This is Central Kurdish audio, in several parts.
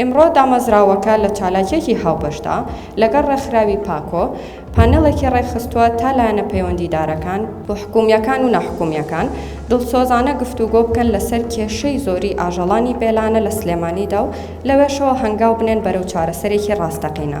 ئیمڕۆ دامەزراوەکە لە چالاکیەکی هاوبەشدا لەگەڵ ڕێکخراوی پاکۆ پانێڵێکی ڕێکخستووە تا لایەنە پەیوەندیدارەکان، حکومیەکان و ناحکومیەکان، دڵسۆزانە گفتوگۆ بکەن لەسەر کێشەی زۆری ئاژەڵانی بێلانە لە سلێمانیدا و لەوێشەوە هەنگاو بنێن بەرەو چارەسەرێکی ڕاستەقینە.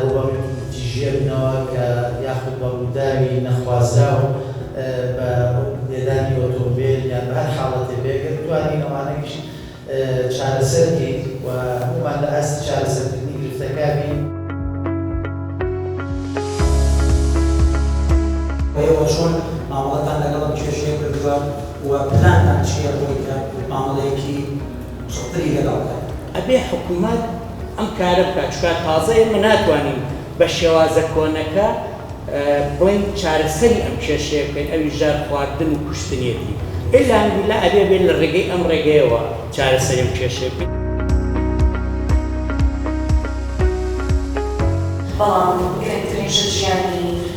ڕووبەڕووی تیژییە بنەوە کە یاخود بە ڕووداوی نەخوازراو بە لێدانی ئۆتۆمبێل یان بە هەر حاڵەتێ بێ گەر بتوانین ئەوانەیش چارەسەر کەین و هەموومان لە ئاستی چارەسەرکردنی گرفتەکە بین. ئێوە چۆن مامەڵەتان لەگەڵ ئەم کێشەیە کردووە و پلانتان چییە بۆی کە مامەڵەیەکی. قسڵتری لەگەڵ بکەن. ئەبێ حکومەت ئەم کارە بکات چونکە تازە ئێمە ناتوانین بە شێوازە کۆنەکە بڵێین چارەسەری ئەم کێشەیە بکەین ئەویش جار خواردن و کوشتنیەتی الا ان باللە ئەبێ بێ لە ڕێگەی ئەم ڕێگەیەوە چارەسەری ئەم کێشەیە بکەین. بەڵام کەمترین شت ژیانی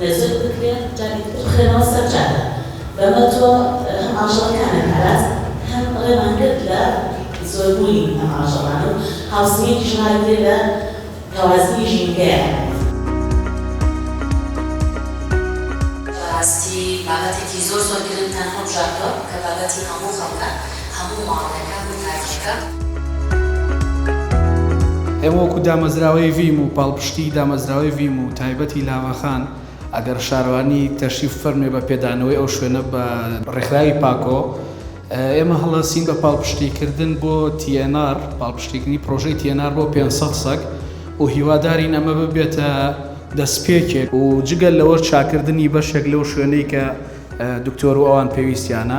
نەزەر بکرێ جارێکی تر بخرێنەوە سەر جادە بەمە تۆ هەم ئاژەڵەکانت پاراست هەم ڕێمان گرت لە زۆربوونی ئەم ئاژەڵانە و هاوسنگیش ڕاگرێ لە کەوازنی ژینگەیان. بەڕاستی بابەتێکی زۆر زۆر گرنگتان هەڵبژاردووە کە بابەتی هەموو خەڵکە. هەموو ماڵەکەکان و تاریشەکان. ئێمە وەکو دامەزراوەی ڤیم و پاڵپشتی دامەزراوەی ڤیم و تایبەتی لاوەخان ئەگەر شارەوانی تەشریف فەرمێ بە پێدانەوەی ئەو شوێنە بە، ڕێکخراوی پاکۆ، ئێمە هەڵەسین بە پاڵپشتی کردن بۆ تی ئێن ئاڕ، پاڵپشتی کردنی پرۆژەی تی ئێن ئاڕ بۆ پێنج سەد سەگ و هیوادارین ئەمە ببێتە دەستپێکێک و جگە لەوەش چاکردنی بەشێک لەو شوێنەی کە دکتۆر و ئەوان پێویستیانە